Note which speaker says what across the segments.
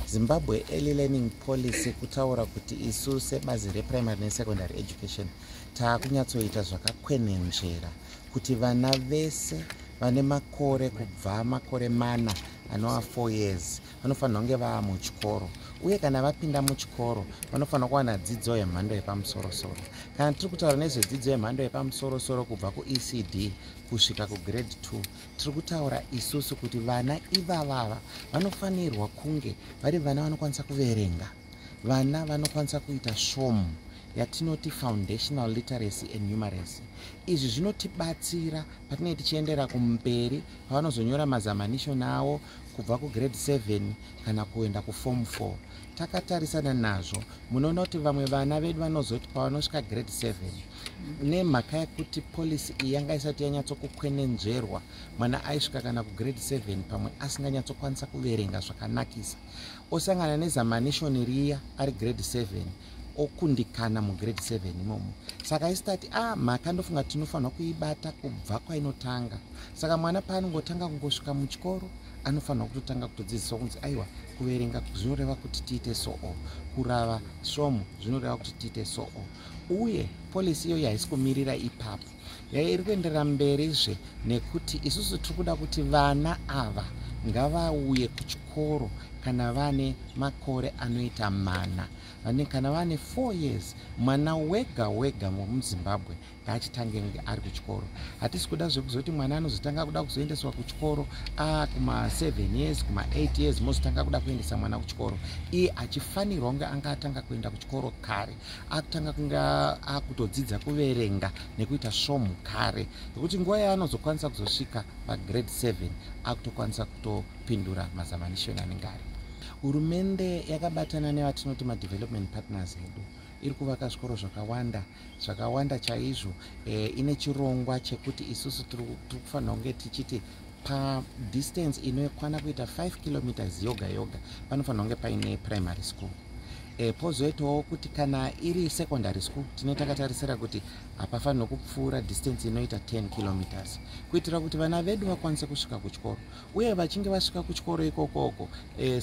Speaker 1: zimbabwe early learning policy kutaura kuti isu sebazi reprimary nesecondary education taakunyatsoita zvakakwenenzvera kuti vana vese vane makore kubva makore mana anova four years vanofanira kunge vava muchikoro uye kana vapinda muchikoro vanofanira kuwana dzidzo yemhando yepamusorosoro kana tiri kutaura nezvedzidzo yemhando yepamusorosoro kubva kuecd kusvika kugrade two tiri kutaura isusu kuti vana ivavava vanofanirwa kunge vari vana vanokwanisa kuverenga vana vanokwanisa kuita svomu yatinoti foundational literacy and numeracy izvi zvinotibatsira patinee tichiendera kumberi pavanozonyora mazamanishon avo kubva kugrade 7 kana kuenda kuform 4 takatarisana nazvo munoona kuti vamwe vana vedu vanozoti pavanosvika grade 7 nemhaka yekuti policy iyi yanga isati yanyatsokukwenenzverwa mwana aisvika kana kugrade 7 pamwe asinganyatsokwanisa kuverenga zvakanakisa osangana nezamanishoni riya ari grade 7 okundikana mugrade 7 imomo saka isitati a ah, mhaka ndofunga tinofanirwa kuibata kubva kwainotanga saka mwana paanongotanga kungosvika muchikoro anofanirwa kutotanga kutodzidziswa kunzi aiwa kuverenga zvinoreva kuti tiite soo kurava svomu zvinoreva kuti tiite soo uye polisi iyoyo haisi kumirira ipapo yai iri kuenderera mberizve nekuti isusu tiri kuda kuti vana ava ngavauye kuchikoro kana vane makore anoita mana vane kana vane four years mwana wega wega muzimbabwe ngaachitange kunge ari kuchikoro hatisi kuda zvekuzoti mwana anozotanga kuda kuzoendeswa kuchikoro a kumaseven years kumaeight years mozotanga kuda kuendesa mwana kuchikoro iye achifanirwa kunge anga atanga kuenda kuchikoro kare akutanga kunge akutodzidza kuverenga nekuita svomhu kare nekuti nguva yaanozokwanisa kuzosvika pagrade 7 akutokwanisa kutopindura mazamanishoni anenge ari hurumende yakabatana nevatinoti madevelopment partners edu iri kuvaka zvikoro zvakawanda zvakawanda chaizvo e, ine chirongwa chekuti isusu tiri kufanira kunge tichiti padistance inokwana kuita 5 kilometers yoga yoga panofanira kunge paine primary school e, pozoitawo kuti kana iri secondary school tine takatarisira kuti hapafanirwe kupfuura distance inoita 10 kilometers kuitira kuti vana vedu vakwanise kusvika kuchikoro uye vachinge vasvika kuchikoro ikokoko e, eh,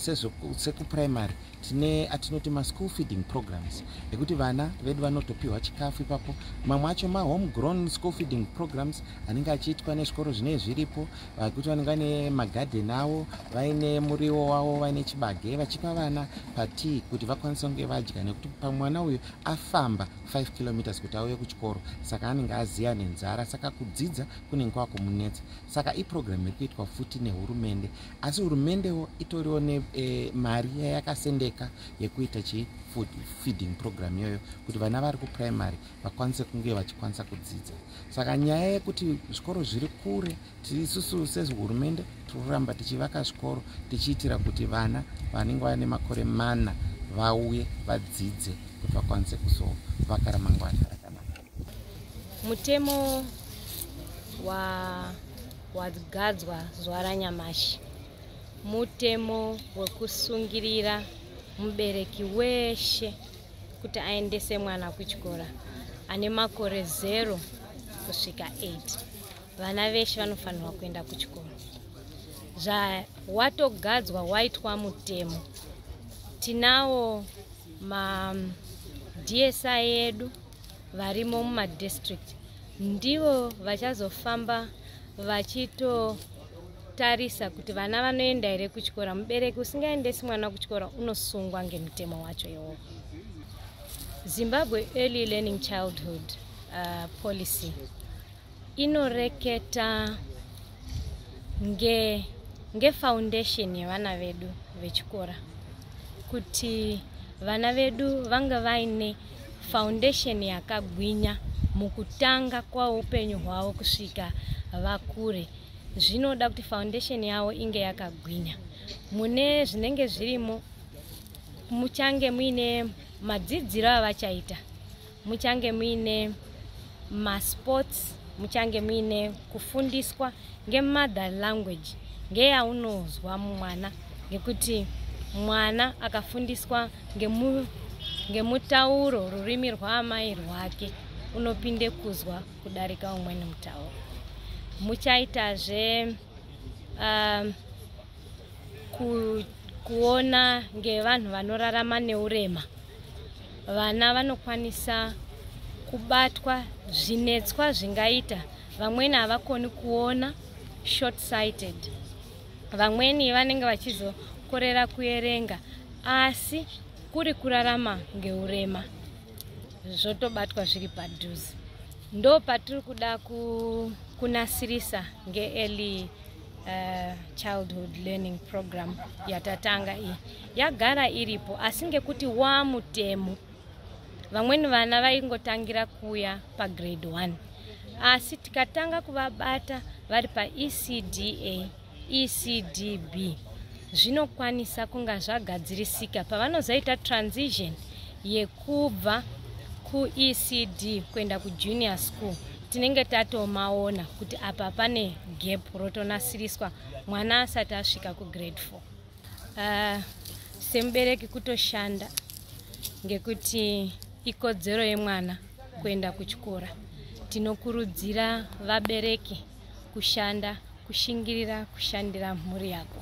Speaker 1: sekuprimary tine atinoti maschool feeding programs ekuti vana vedu vanotopiwa chikafu ipapo mamwe acho mahome grown school feeding programs anenge achiitwa nezvikoro zvinee zviripo vakuti vanenge vane magarden avo vaine muriwo wavo vaine chibage vachipa vana patii kuti vakwanise kunge vadya nekuti pamwe mwana uyu afamba 5 kilometers kuti auye kuchikoro saka anenge aziya nenzara saka kudzidza kunenge kwakumunetsa saka iprogramu iri kuitwa futi nehurumende asi hurumendewo itoriwo nemari eh, e, yayakasendeka yekuita chi food feeding program iyoyo kuti vana vari kuprimary vakwanise kunge vachikwanisa kudzidza saka nyaya yekuti zvikoro zviri kure tiisusu sehurumende tiri kuramba tichivaka zvikoro tichiitira kuti vana vanenge vane makore mana vauye vadzidze kuti vakwanise kuzovaka ramangwana mutemo
Speaker 2: wagadzwa wa zuva ranyamashi mutemo wekusungirira mubereki weshe kuti aendese mwana kuchikora ane makore zero kusvika 8 vana veshe vanofanirwa kuenda kuchikoro zvawatogadzwa waitwa mutemo tinawo madsi edu varimo mumadistrict ndivo vachazofamba vachitotarisa kuti vana vanoenda here kuchikora mubereki usingaendesi mwana kuchikora unosungwa ngemutemo wacho iwowo zimbabwe early learning childhood uh, policy inoreketa nge ngefoundation yevana vedu vechikora kuti vana vedu vanga vaine foundation yakagwinya mukutanga kwaupenyu hwavo kusvika vakure zvinoda kuti foundation yavo inge yakagwinya mune zvinenge zvirimo muchange muine madzidziro avachaita muchange muine masports muchange muine kufundiswa ngemother language ngeyaunozwa mwana ngekuti mwana akafundiswa ngemu, ngemutauro rurimi rwaamai rwake unopinde kuzwa kudarika umweni mutauro muchaitazve um, ku, kuona ngevanhu vanorarama neurema vana vanokwanisa kubatwa zvinetswa zvingaita vamweni havakoni kuona short sighted vamweni vanenge vachizokorera kuerenga asi kuri kurarama ngeurema zvotobatwa zviri padhuze ndo patiri kuda ku, kunasirisa ngeearly uh, childhood learning program yatatanga iyi yagara iripo asi ngekuti waa mutemo vamweni vana vaingotangira kuuya pagrade 1 asi tikatanga kuvabata vari paecda ecdb zvinokwanisa kunga zvagadzirisika pavanozoita transition yekubva kuecd kuenda kujunior school tinenge tatomaona kuti apa pane gap rotonasiriswa mwana asati asvika kugrade 4 uh, semubereki kutoshanda ngekuti ikodzero yemwana kuenda kuchikora tinokurudzira vabereki kushanda kushingirira kushandira mhuri yako